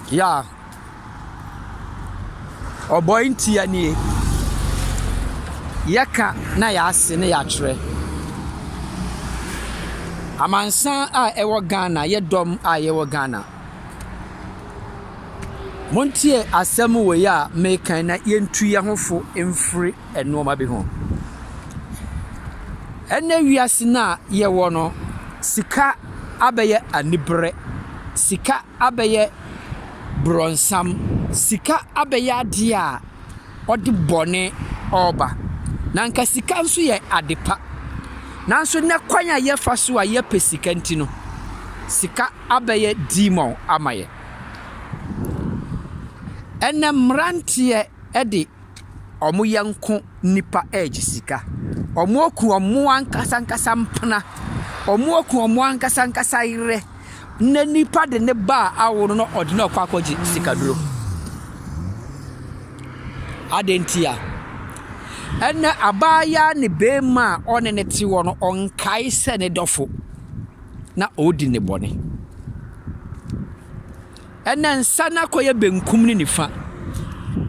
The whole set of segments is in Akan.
Yeah. Ɔbɔe ntia nie. Yɛka na yɛase na yɛakyerɛ. Amansan a ɛwɔ Ghana, yɛ dɔm a yɛwɔ Ghana. Montie asɛm wei a meka yi na yɛntu yɛn ho fo mfiri. nnoɔma bi ho. Ɛnnɛ wiase no a yɛwɔ no, sika abɛyɛ aniberɛ, sika abɛyɛ borɔnsam, sika abɛyɛ adeɛ a ɔde bɔne ɔɔba. Na nka sika nso yɛ ade pa. Nanso nnɛ kwan a yɛfa so a yɛpɛ sika nti no, sika abɛyɛ demon ama yɛn. Ɛnnɛ mmeranteɛ de. ɔmo yɛnko nnipa regye sika. Ɔmo aku ɔmo ankasa ankasa mpena. Ɔmo aku ɔmo ankasa ankasa yerɛ. Nnɛ nnipa de ne ba a awo no na ɔde no rekɔ akɔgye sika duro. Adeɛ nti a? Ɛnɛ abaayaa ne beema a ɔne no te hɔ no ɔnkae sɛ ne dɔfo na ɔredi ne bɔne. Ɛnna nsa no akɔyɛ benkum ne nifa.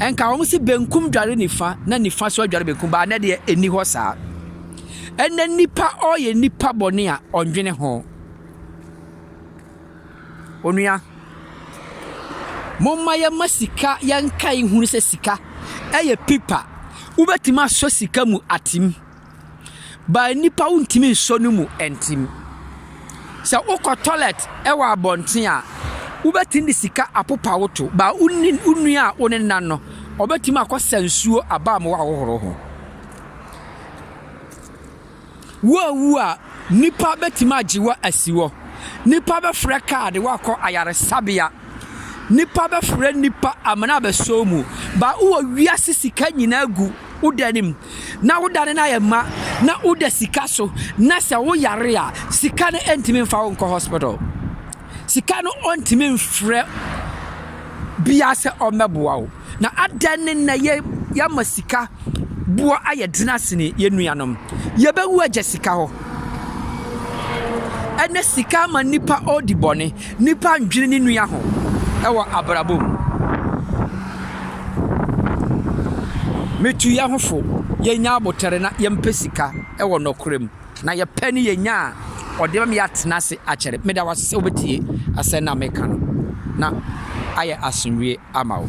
Ɛnka wɔn se benkum dware nifa na nifa nso adware benkum, baa nnɛ deɛ ɛnni hɔ saa. Ɛnna nipa ɔyɛ nipa bɔne a ɔndwene ho. Onua, momma yɛma sika yɛnkae nhunu sɛ sika ɛyɛ pipa. Wobɛtumi asɔ sika mu atem. But nnipa wontumi nsɔ no mu ntim. Sɛ wokɔ toilet wɔ abɔnten a, wobɛtumi de sika apopa wo to. But wo ne wo nua a wo ne nan no, ɔbɛtumi akɔsa nsuo aba a ma woahohoro ho. Woawu a, nnipa bɛtumi agye wo asi hɔ. Nnipa bɛfrɛ kaa de wo akɔ ayaresabea. Nipa bɛfrɛ nipa amena abɛsɔw mu. Ba wowɔ wiase sika nyinaa gu wo da no mu, na wo da no na yɛ ma, na woda sika so, na sɛ wo yare a, sika no ntumi mfa wo nkɔ hospital. Sika no ɔntumi mfrɛ bia sɛ ɔmmɛboa wo. Na adɛn ne nnɛ yɛ yɛama sika boɔ ayɛ dena sene yɛn nuanom? Yɛbɛwu agya sika hɔ. Ɛnɛ sika ama nnipa ɔɔdi bɔne. Nnipa ndwene ne nua ho ɛwɔ abrabɔ mu. Metu yɛn ho fo, yɛnyɛ abotere na yɛmpɛ sika ɛwɔ nɔkorɛ mu. Na yɛpɛ ne yɛnya a, ɔde bɛma yɛatena ase akyɛre. Meda wo ase sɛ wobɛtie asɛm no a meka no, na ayɛ asomdwoeɛ ama wo.